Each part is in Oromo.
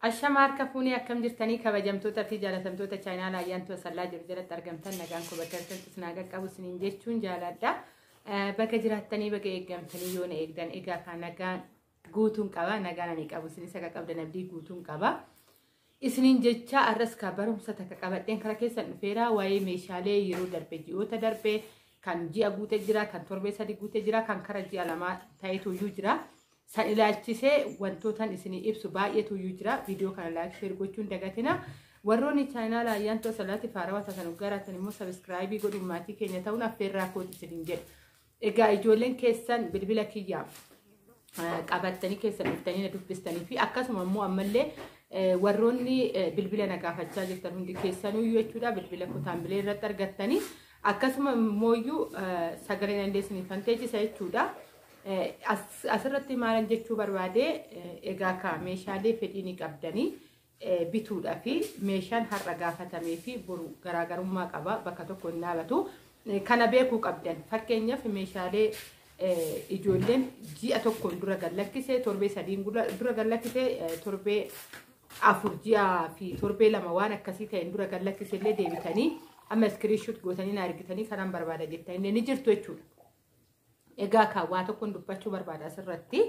Ashama harka fuunee akkam jirtanii kabajamtoota fi jaalatamtoota chaayinaala ayyaantu asallaa jiru jalatti argamtan nagaan koo bakka jirtanitti isin haa qaqqabu isiniin jechuun jaaladha. Eh, Bakka jiraattanii bakka eeggamtanii yoo na eegdan egaa kan nagaan guutuun qaba nagaan ani qabu isinis akka qabdan abdii guutuun qaba. Isiniin jecha arras ka barumsa takka qabadheen kara keessan dhufeera waa'ee meeshaalee yeroo darbe ji'oota darbe kan ji'a guute jira kan torbee sadi guute jira kan kara ji'a lamaa ta'etu iyyuu jira. San ilaalchisee wantootan isinii ibsu baay'eetu iyyuu jira. Viidiyoo kana laayik sheer gochuun dagatina. Warroonni chaayinaala ayyaantoo salaati faarawaa taatan garaatan immoo sabiskiraayibii godhuun maatii keenya ta'uun affeerraa kooti isiniin jedha. Egaa ijoolleen keessan bilbila kiyyaa qabattanii keessan dhuftanii na dubbistanii fi akkasuma immoo ammallee warroonni bilbila na gaafachaa jirtan hundi keessanuu jechuudha bilbila kutaan bilee irratti argattanii akkasuma immoo sagaleen dandeessanii fanteechisa jechuudha. Asirratti maalan jechuu barbaade egaa kaa meeshaalee fedhii ni qabdanii bituudhaa fi meeshaan har'a gaafatamee fi boru garaagarummaa qaba bakka tokko hin dhaabatu. Kana beekuu qabdan fakkeenyaaf meeshaalee ijoolleen ji'a tokkoon dura gallakkisee torbee sadiin dura gallakkisee torbee afur ji'a fi torbee lama waan akkasii ta'een dura gallakkisee illee deebitanii amma iskiriishuut gootanii na argitanii kanan barbaada jettanii ni jirtu jechuudha. Egaa kaa waa tokkoon dubbachuu barbaada asirratti.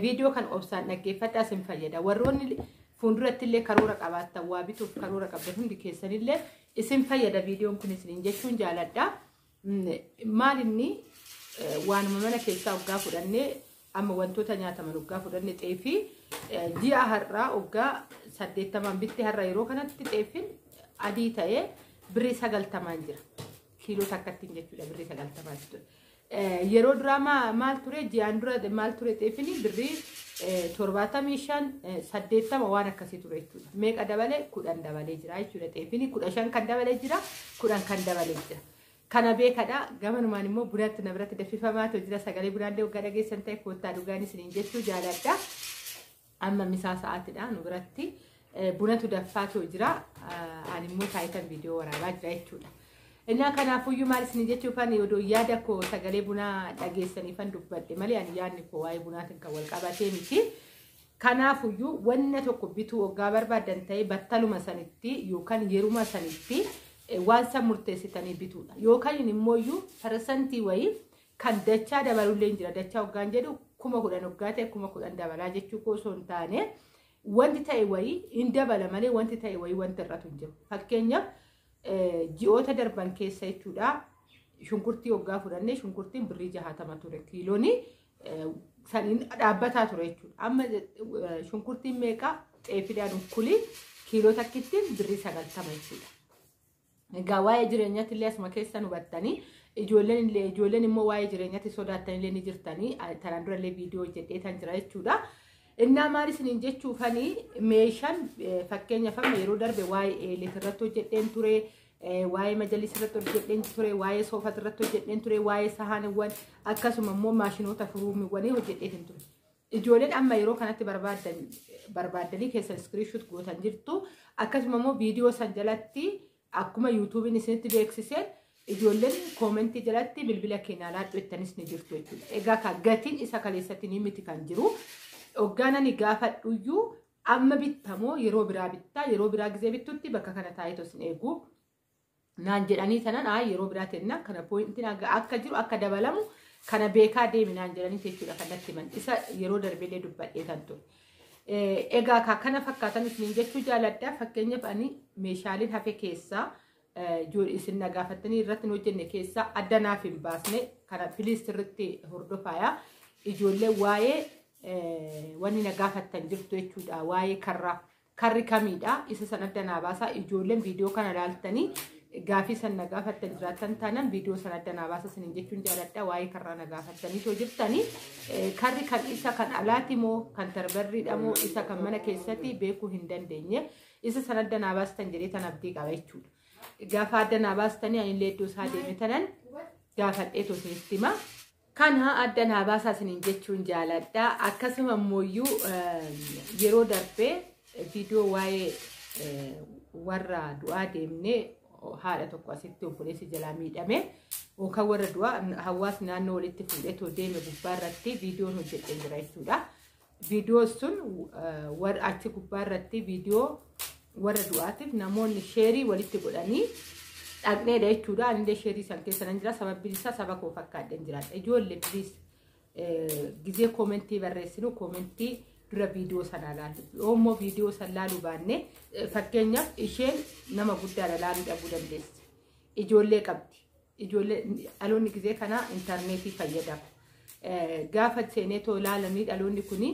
Viidiyoo kan obsaan dhaggeeffadhaa isin fayyada. Warroonni fuulduratti illee karoora qabaattan waa bituuf karoora qabdan hundi keessanillee isin fayyada viidiyoon kun isiniin jechuun jaaladha. Maal inni waanuma mana keessaa oggaa fudhannee amma wantoota nyaataman oggaa fudhanne xeefii ji'a har'aa oggaa saddeettamaan bitti har'a yeroo kanatti xeefiin adii ta'ee birrii sagaltamaan jira. kiiloo takkattiin jechuudha birrii sagaltamaa jechuudha. Yeroo duraa maal ture ji'aan dura maal ture xeefini birrii torbaatamii shan saddeettama waan akkasii ture jechuudha. Meeqa dabalee kudhan dabalee jira jechuudha xeefini kudha shan kan dabalee jira kudhan kan dabalee jira. Kana beekadha gamanumaan immoo bunatti na biratti daffifamaa ta'u jira sagalee bunaallee waggaa dhageessan ta'e koottaa dhugaanis niin jechuu jaaladha. Amma misaa sa'aatidha nu biratti bunatu daffaa too jira ani immoo taayitan viidiyoo waraabaa jira jechuudha. Innaa kanaafuyyuu maal isin jechuufan odoo yaada koo sagalee bunaa dhageessaniifan dubbadhe malee ani yaadni koo waa'ee bunaatiin kan wal qabatee miti. Kanaafuyyuu wanna tokko bituu oggaa barbaadan ta'ee battaluma sanitti yookaan yeruma sanitti waan san murteessitanii bituudha. Yookaan immoo iyyuu parsantii wayii Kan dachaa dabalullee jira. Dachaa hoggaan jedhu kuma kudhan hoggaa ta'e kuma kudhan dabalaa jechuu koo osoo hin taane wanti ta'e wayii hin dabala malee wanti ta'e wayii wanti irratu hin jiru. Fakkeenyaaf ji'oota darban keessa jechuudha. Shunkurtii hoggaa fudhannee shunkurtiin birrii jahaatama ture kiiloonii saniin dhaabbataa ture jechuudha. Amma shunkurtiin meeqaa xeefidhaan ukkulii kiiloo takkittiin birrii sagaltama jechuudha. Egaa waa'ee jireenyatti illee asuma keessa nu battanii ijoolleen illee ijoolleen immoo waa'ee jireenyatti sodaattan illee ni jirtanii tanaan dura illee viidiyoo hojjedhee tan jira jechuudha. Innaa maal isiniin jechuufanii meeshaan fakkeenyaaf amma yeroo darbe waa'ee eelet irratti hojjedheen ture. waa'ee majalis irratti hojjedheen ture, waa'ee soofat irratti hojjedheen ture, waa'ee sahaaniwwan akkasuma immoo maashinoota furuumiwwanii hojjedheen ture. Ijoolleen amma yeroo kanatti barbaaddan barbaaddanii keessan iskiriishuut gootan jirtu. Akkasuma immoo viidiyoo san jalatti akkuma yuutuubiin isinitti beeksiseen ijoolleen koomentii jalatti bilbila keenyaa laadhu jettanis ni jirtu jechuudha. Egaa ka gatiin isa kaleessatti ni miti kan jiru. Oggaan ani gaafadhuyyuu amma bittamoo yeroo biraa bittaa yeroo biraa gizee bittutti bakka kana taa'eetu isin eegu. naan jedhanii tanan aa yeroo biraa tenna kana poointiin akka jiru akka dabalamu kana beekaa deemi naan jedhanii jechuudha kan natti himan isa yeroo darbeellee dubbadhee tan ture. Egaa kaa kana fakkaatan isiniin jechuu jaaladha fakkeenyaaf ani meeshaaleen hafe keessaa isin na gaafattanii irratti hin hojjenne keessaa adda naaf hin baasne kana piliis irratti hordofaaya ijoollee waa'ee wanni na gaafattan jirtu jechuudha waa'ee karraa Karri kamiidha? Isa san adda naa baasaa. Ijoolleen viidiyoo kana laaltanii gaafii san na gaafattan jiraattan taanaan viidiyoo san adda naa baasaa sinin jechuun jaaladha. Waa'ee karraa na gaafattanii too jirtanii. Eh, Karri kan isa kan alaati moo kan tarbarriidha moo isa kan mana keessatti beekuu hin dandeenye. Isa san adda naa baastan jedhee tan abdii qaba jechuudha. Gaafa adda naa baastanii anillee iddoo isaa deeme tanan gaafadhee too isinitti hima. Kana adda naa baasaa isiniin jechuun jaaladha. Akkasuma immooyyuu yeroo darbee viidiyoo waa'ee warra du'aa deemnee haadha tokko asitti obboleessi jalaa miidhame yookaan warra du'aa hawaasni naannoo walitti fuudhee too deeme gubbaa irratti viidiyoon hojjetee jira jechuudha. Viidiyoo sun warra achi gubbaa irratti viidiyoo warra du'aatiif namoonni sheerii walitti godhanii dhaqneedha jechuudha. Anillee sheerii san keessa nan jira. Sababbiin isaa saba koo fakkaadheen jiraadha. Ijoollee piliis gizee koomentii barreessinu koomentii dura viidiyoo sana ilaalu. Yoo immoo viidiyoo sana ilaaluu baanne fakkeenyaaf isheen nama guddaadha ilaaluu dhabuu dandeessi. Ijoollee qabdi. Ijoollee dhaloonni gizee kana intarneetii fayyadama. Gaafa seenee too ilaalanii dhaloonni kun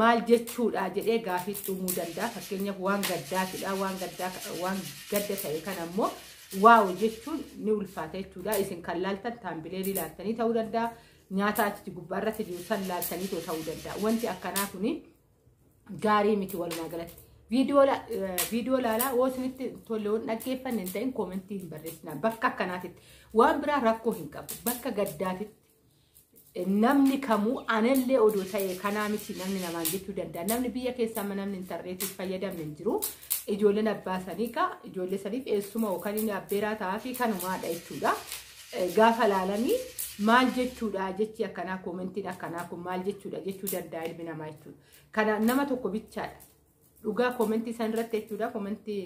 maal jechuudha jedhee gaafii uumuu danda'a. Fakkeenyaaf waan gaddaatidha. Waan gaddaa waan gadda ta'e kana immoo waaw jechuun ni ulfaata jechuudha. Isin kan laaltan taambilee ilaaltanii ta'uu danda'a. Nyaata achi gubbaarratti jiru san laaltanii ta'uu danda'a. Wanti akkanaa kuni gaarii miti walumaa galatti. Viidiyoo laalaa yoo isinitti tolle waan dhaggeeffanne hin ta'in koomentii hin barreessinaa. Bakka akkanaatitti waan biraa rakkoo hin qabu. Bakka gaddaatitti namni kamuu anallee odoo ta'e kanaa miti namni namaan jechuu danda'a. Namni biyya keessaa amma namni intarneetii fayyadamne hin jiru. Ijoolleen abbaa sanii kaa ijoollee saniif eessuma yookaan inni abbeeraa ta'aa fi kanumaadha jechuudha. gaafa laalanii maal jechuudha jechi akkanaa koomentiin akkanaa kun maal jechuudha jechuu danda'a ilmi namaa jechuudha. Kana nama tokko bichaadha. Dhugaa koomentii san irratti jechuudha koomentii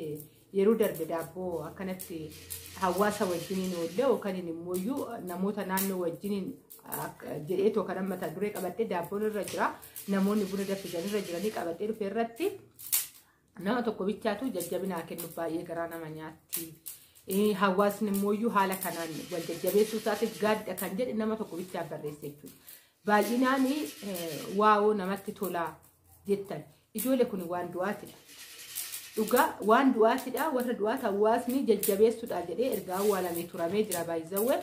yeroo darbe daabboo akkanatti hawaasa wajjiniin oollee yookaan immoo iyyuu namoota naannoo wajjiniin jedhee tokko kan mata duree qabadhee daabboon irra jira namoonni buna danfisan irra jiranii qabadhee dhufe irratti Nama tokko bichaatu jajjabinaa kennu baay'ee garaa nama nyaatti. Hawaasni immoo haala kanaan wal jajjabeessuu isaatiif gaadda kan jedhe nama tokko bichaa barreesse jechuudha. Baay'inaan waa'oo namatti tolaa jettan. Ijoollee kun waan du'aatidha. Dhugaa waan du'aatidha. Warra du'aat hawaasni jajjabeessuudha jedhee ergaa awwaalamee turamee jira baay'isawwe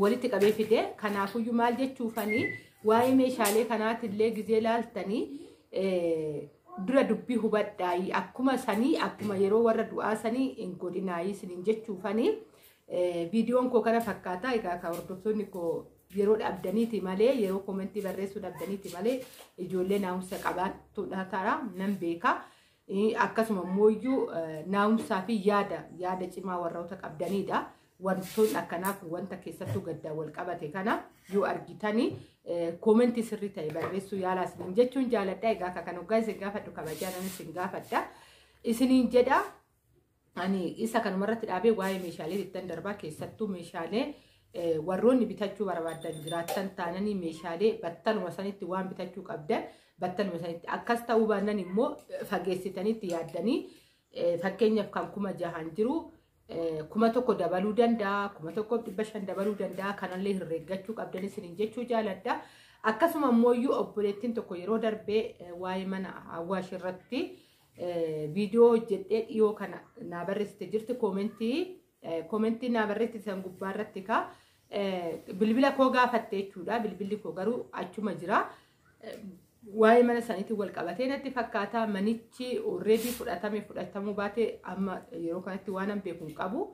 walitti qabee fide. Kanaafuyyuu maal jechuufanii waa'ee meeshaalee kanaatillee gizee laaltanii dura dubbii hubadhaayii akkuma sanii akkuma yeroo warra du'aa sanii hin godhinaayii sinin jechuufanii viidiyoon koo kana fakkaataa egaa kan hordoftoonni koo yeroo dhabdaniiti malee yeroo koomentii barreessuu dhabdaniiti malee ijoollee naa'umsa qabaattuudha ta'a nan beeka. Akkasuma immoo iyyuu naa'umsaa fi yaada yaada cimaa warroota qabdanidha. wantoonni akkanaa kun wanta keessattuu gaddaan wal qabate kana yoo argitani koomentii sirrii ta'e barreessuu yaalaa isiniin jechuun jaaladha. Egaa akka kan hoggaa isin gaafadhu kabajaan ani isin gaafadha. Isiniin jedha ani isa kanuma irratti dhaabee waa'ee meeshaalee ittan darbaa keessattuu meeshaalee warroonni bitachuu barbaadan jiraattan taananii meeshaalee battaluma sanitti waan bitachuu qabdan battaluma sanitti akkas ta'uu baannan immoo fageessitanitti yaaddanii Fakkeenyaaf kan kuma jahaan jiru kuma tokko dabaluu danda'a, kuma tokko dhibba shan dabaluu danda'a, kanallee herreeggachuu qabdan isiniin jechuu jaaladha. Akkasuma immoo iyyuu obboleettiin tokko yeroo darbee waa'ee mana Awwaash irratti viidiyoo hojjedhee dhiyoo kana naa barreessite jirti koomentii Komentii naa barreessitan gubbaa irratti ka bilbila koo gaafatte jechuudha. Bilbilli koo garuu achuma jira. Waa'ee mana saniitiin wal qabatee natti fakkaata. Manichi already fudhatame fudhatamuu baate amma yeroo kanatti waan an beeku hin qabu.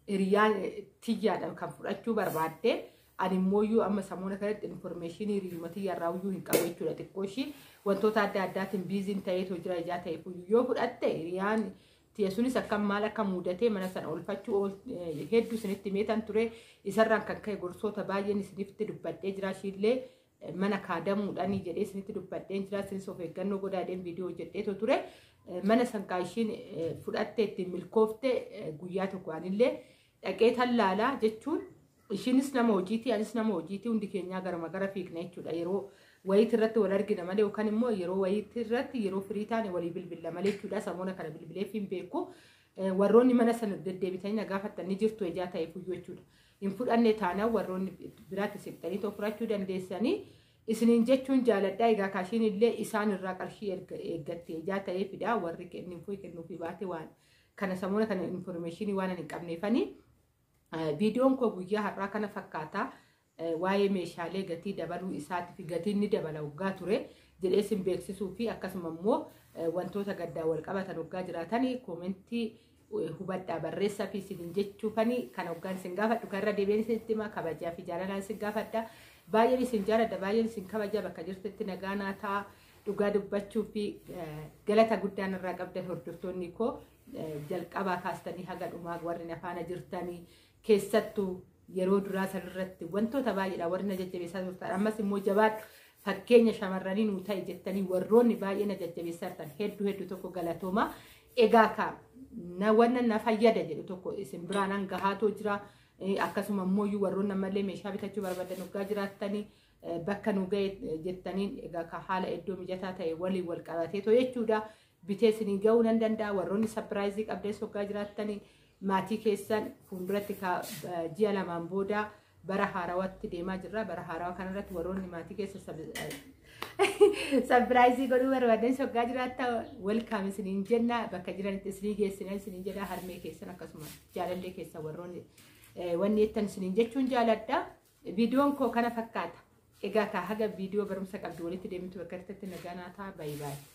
Hiriyaan tiyyaadhaan kan fudhachuu barbaadde. Ani immoo iyyuu amma samuuna kanatti informeeshinii hiriyuma tiyyaarraa iyyuu hin qabu jechuudha. Xiqqoo ishii wantoota adda addaatiin biiziin ta'eetu jira ijaa ta'eef yoo fudhatte hiriyaan tiya sunis akkam maal akka muudatee mana sana oolfachuu ool- eh, hedduu isinitti meetan ture isarraan kan ka'e gorsoota baay'een isinitti dubbadhee jira ishiillee eh, mana kaadamuudhaan jedhee isinitti dubbadheen jira isinis of eeggannoo godhaadheen viidiyoo hojjedheetu ture Eh, mana sankaa ishiin eh, fudhattee ittiin milkoofte eh, guyyaa tokko anillee dhaqee tallaalaa jechuun Ishiinis nama hojiiti, anis nama hojiiti, hundi keenyaa garama gara fiigna jechuudha. Yeroo wayiitti irratti wal argina malee yookaan immoo yeroo wayiitti irratti yeroo firii taane walii bilbilla malee jechuudha. Samoona kana bilbileef hin beeku. Eh, Warroonni mana sana deddeebitanii na gaafattan ni jirtu ejaa ta'e fuyyuu jechuudha. Hin fudhanne taanaan warroonni biraatti siqxanii too fudhachuu dandeessanii isiniin jechuun jaaladhaa egaa kaashiin illee isaan irraa qarshii erga eeggatti ejaa ta'ee fidaa warri kennuufii kennuufii baate waan kana samoona kana informeeshinii waan hin qabneefanii. Viidiyoon koo guyyaa har'aa kana fakkaata. Waa'ee meeshaalee gatii dabaluu isaatii fi gatiin ni dabala waggaa ture jedhee sin beeksisuu fi akkasuma immoo wantoota gaddaa wal qabatan waggaa jiraatan koomentii hubadhaa barreessaa fi isin jechuufani kan waggaan isin gaafadhu kan irra deebiin isin itti hima kabajaa fi jaalalaan isin gaafadha. Baay'een isin jaaladha baay'een isin kabaja bakka jirtetti nagaa naa ta'a. dhugaa dubbachuu fi galata guddaan irraa qabdan hordoftoonni koo jalqabaa kaastanii haga dhumaa warri na faana jirtanii keessattuu yeroo duraa sanirratti wantoota baay'eedha warri na jajjabeessaa turtan ammas immoo jabaadha fakkeenya shamarranii nuu ta'e jettanii warroonni baay'ee na jajjabeessaa turtan hedduu hedduu tokko galatooma egaa kaa na wanna na fayyada jedhu tokko isin biraan hangahaatoo jira akkasuma immoo iyyuu warroonni ammallee meeshaa bitachuu barbaadan hoggaa jiraattanii bakka nu ga'e jettaniin egaa kaa haala iddoo mijataa ta'e waliin wal qabatee too jechuudha bitee isinii ga'uu nan danda'a warroonni sapiraayizii qabdees hoggaa jiraattanii maatii keessan fuulduratti ka- eh, ji'a lamaan booda bara haarawatti deemaa jirra bara haarawa kanarratti warroonni maatii keessa sapiraayizii godhuu barbaadan hoggaa jiraatta welkaam isiniin jenna bakka jiranitti isinii geessinan isiniin jedha harmee keessan akkasuma jaalallee keessan warroonni eh, wanni jettan isiniin jechuun jaaladha viidiyoon koo kana fakkaata egaa kaa haga viidiyoo barumsa qabdu walitti deemtu bakka irratti nagaa naataa baay'ee baay'ee